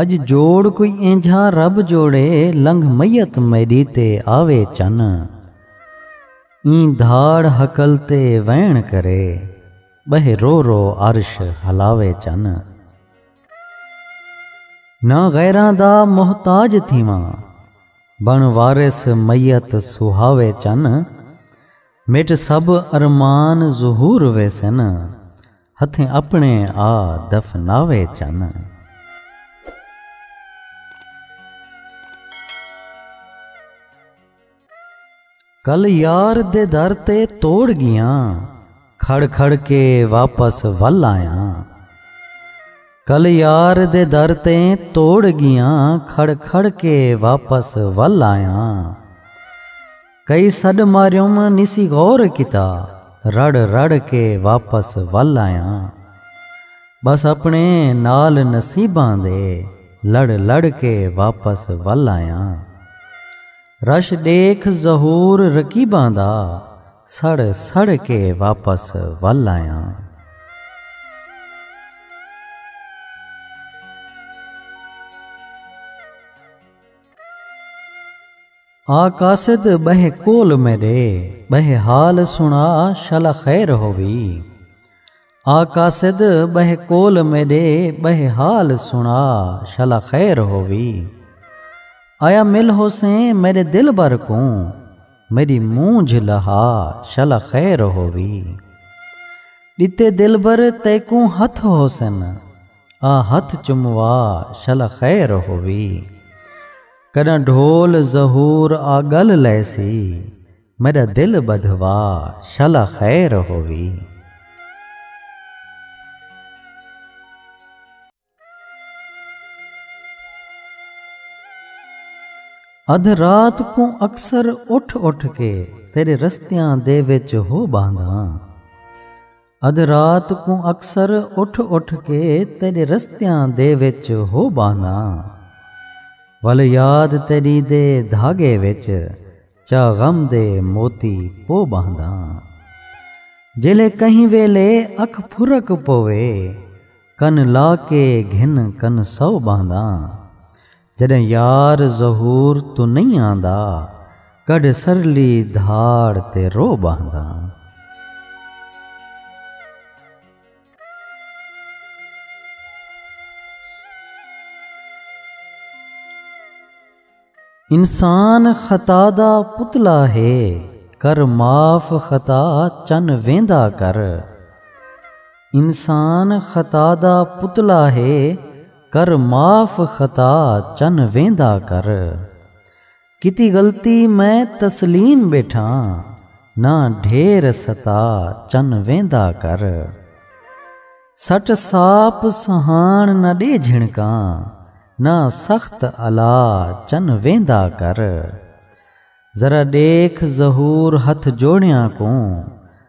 اڄ جوڑ کوئی اینجھاں رب جوڑے لنگھ میت میݙی تے آوے چن ایں دھاڑ ہکل تے ویݨ کرے ٻہہ رو رو عرش ہلاوے چن نہ غیراں دا محتاج تھیواں بݨ وارث میت سہاوے چن مٹ سب ارمان ظہور ویسن ہتھیں اپنے آ دفناوے چن۔ کل یار دے در تے توڑ گیاں کھڑ کھڑ کے واپس ول آیا کل یار دے در تے توڑ گیاں کھڑ کھڑ کے واپس ول آیا کئی سݙ ماریوم نسی غور کیتا رڑ رڑ کے واپس ول آیاں بس اپنے نال نصیباں دے لڑ لڑ کے واپس ول آیاں رش ݙیکھ ظہور رقیباں دا سڑ سڑ کے واپس ول آیاں۔ آ قاصد ٻہہ کول میݙے ٻہہ حال سݨا شل خیر ہووی آ قاصد ٻہہ کول میݙے ٻہہ حال سݨا شل خیر ہووی آیا مل ہوسیں میݙے دلبر کوں میݙی مونجھ لہا شل خیر ہووی ݙتے دلبر تیکوں ہتھ ہوسن آ ہتھ چموا شل خیر ہووی کݙاں ڈھول ظہور آ ڳل لیسی میݙا دل ٻدھوا شل خیر ہووی۔ ادھ رات کوں اکثر اٹھ اٹھ کے تیݙے رستیاں دے وچ ہو ٻہنداں۔ ادھ رات کوں اکثر اٹھ اٹھ کے تیڈے رستیاں دے وچ ہو بانا ول یاد تیڈی دے دھاگے وچ چا غم دے موتی پو باندا جیلے کہیں ویلے اکھ پھرک پوے کن لا کے گھن کن سو باندا جݙاں یار ظہور توں نئیں آندا کڈھ سرلی دھاڑ تے رو ٻہنداں۔ انسان خطا دا پتلا ہے کر معاف خطا چن ویندا کر۔ کر معاف خطا چن ویندا کر۔ کیتی غلطی میں تسلیم ٻیٹھاں نہ ڈھیر ستا چن ویندا کر۔ سٹ ساپ سہاݨ نہ ݙے جھنکاں نہ سخت الا چن ویندا کر۔ ذرا ݙیکھ ظہور ہتھ جوڑیاں کوں۔